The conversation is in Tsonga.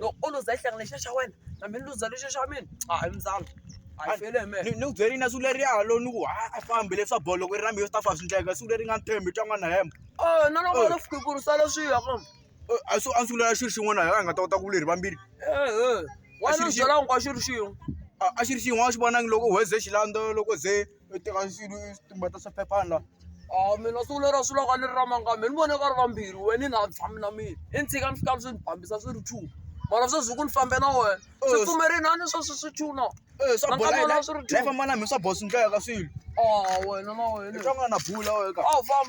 loko o luza hlanga lexiya xa wena na mi ni luza lexiya xa mina a hi muzalo a yi fele hi mina ni ku byeli na siku leri ya lo ni ku ha a fambi leswa bolo loko ri na mina swi ta fa swi ndleka siku leri nga ntshembi twa nga na hemba o na loko lo fike ku ri sala swi ya kambe Eh, a su a ni sungula xilo xin'wana hi nga ta kota ku leri vambirhi ehe wena Xi- xi- byela hinkwaswo ri xin'we a a xi ri xin'wana a xi vonangi loko u heze xilando loko ze u teka xilo u swi tumbeta swa phephana laha a mina siku lero swilo ka ni ri ra mangani me ni vone ka ri vambirhi we ni na tshami na mina i ni tshika ni fika ni swi ni fambisa swi ri two mara sweswi hi ku ni fambe na wena swi pfumerini a ni sweswi swi two na e swa bola Nakona swi ri two. lifamba na mina swa bola swi ndleka ka swilo a wena na wena i twa nga na bula wena ka a wu fambi